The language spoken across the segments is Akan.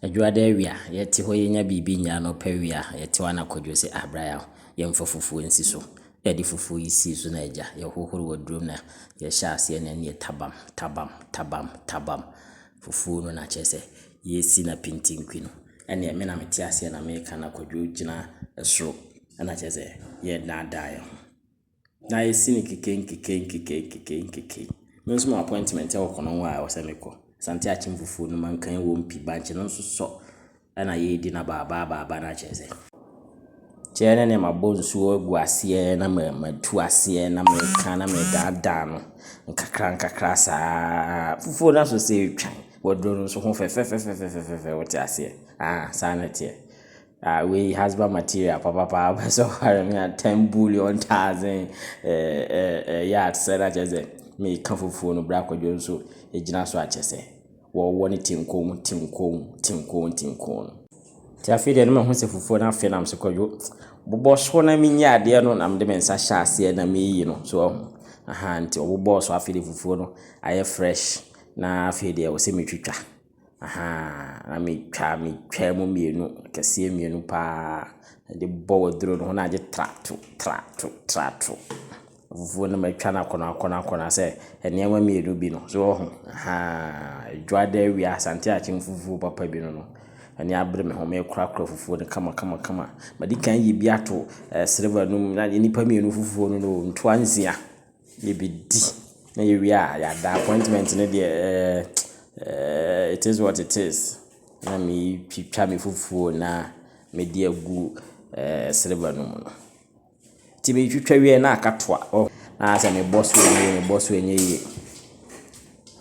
Adwuada awia, yɛte hɔ yɛnya biribi nnya a, anɔpa awia yɛte hɔ a na Kwadwo se ah bra yɛmfa fufuo nsi so. Na yɛde fufuo yi sii so na agya, yɛhohoro aduro mu na yɛhyɛ aseɛ na ɛnneɛ tabam, tabam, tabam, tabam. Fufuo no na kyerɛ sɛ yɛresi no apintinki no. Ɛnneɛ me na mete aseɛ na meka na Kwadwo gyina soro na kyerɛ sɛ yɛnnaadaa yɛn ho. na yɛsi no keke nkeke nkeke nkeke nkeke. Me nso mewɔ appointment wɔ Konongo a ɛwɔ sɛ mekɔ. Asante Akyem fufuo no mankan ɛwɔ mu pi. Bankye no nso sɔ na yɛredi no abaa abaa abaa abaa no akyerɛ sɛ kyɛ ɛne deɛ mabɔ nsuo agu aseɛ na matu aseɛ na meka na medaadaa no nkakra nkakra saa. Fufuo no asɔ sɛ ɛretwan. Waduro no nso ho fɛ fɛfɛfɛfɛfɛfɛ wote aseɛ? Ahaa saa na ɛteɛ. Ah wei husband material papapaa wopɛ sɛ ɔware me a ten bullion thousand ɛɛ yard sɛ na kyerɛ sɛ meka fufuo no bra kwadwo nso gyina so akyɛ sɛ wɔwɔ ne tinkoom tinkoom tinkoom tinkoom no. Nti afei deɛ na mahu sɛ fufuo no afe nam sɛ kwadwo bobɔ so na menyi adeɛ no na mede me nsa hyɛ aseɛ na meyi no so wahu ahaa nti ɔbobɔɔ so afei deɛ fufuo no ayɛ fresh na afei deɛ ɛwɔ sɛ metwitwa. Ahaa, metwaa metwaa mu mmienu, akɛseɛ mmienu pa ara de bɔ waduro no ho na agye tra to, tra to, tra to. Afufuo no matwa no akɔnɔ akɔnɔ akɔnɔ sɛ nneɛma mmienu bi no. So woahu? Ahaa, Adwoadaawia Asante Akyem fufuo papa bi no no, ani abere me ho. Mekorakora fufuo no kama kama kama. Madi kan ayi bi ato sereba no mu na agye nnipa mmienu fufuo no na o, ntoa nsia. yɛbɛdi na yɛwie a yɛada. Appointment no deɛ ɛɛɛɛɛ it is what it is. Na meretwitwa me fufuo no na mede agu ɛɛɛ silver no mu no. Nti metwitwa wie a na aka toa. Anaasɛ mebɔ so ɛnyɛ yie, mebɔ so ɛnyɛ yie.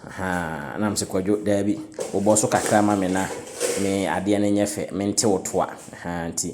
Ahaa, na me se Kwadwo, daabi, wobɔ so kakra ma me na me adeɛ no nyɛ fɛ, mente wo toa. Ahaa nti.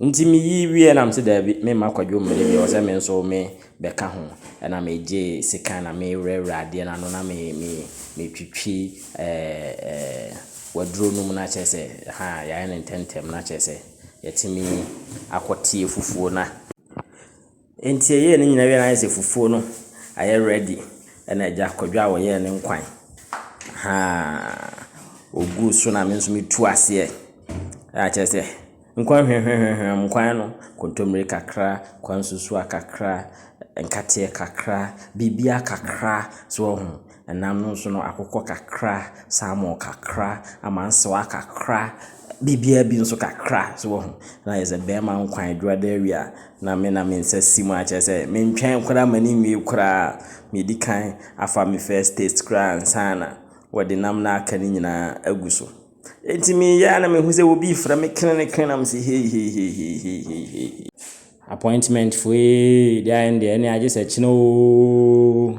Nti me yi wie na me se daabi me mma kwadwo mmere bi ɔsɛ me nso me bɛ ka ho ɛna me gye sekan na me wura wura adeɛ no ano na me me me twitwi ɛɛ waduro no mu na kyerɛ sɛ ha yɛ ayɛ no ntɛntɛm na kyerɛ sɛ yɛtumi akɔ tie fufuo no a. Enti yɛyɛɛ ne nyinaa wie na ayɛ sɛ fufuo no ayɛ ready ɛna agya kwadwo a ɔyɛɛ ne nkwan ahaa ɔguu so na me nso metuu aseɛ a kyerɛ sɛ nkwan hwamhwamhwam nkwan no kontomire kakra nkwan nsusuaa kakra nkateɛ kakra biribiara kakra so wahu. Nam no nso no, akokɔ kakra, salmon kakra, amansewa kakra, biribiara bi nso kakra, so woahu. Na as a barima nkwa adwuma da awie a, na me na me nsa si mu a kyerɛ sɛ mentwɛn koraa mma no nwie koraa, medi kan afa me first taste koraa ansa na wɔde nam no a aka no nyinaa agu so. Enti meyɛ ara na mehu sɛ obi refrɛ me krenekren na mese heiheiheiheihei, appointment foe, deɛ ayɛ no deɛ ɛnneɛ agye sɛ kyena oo.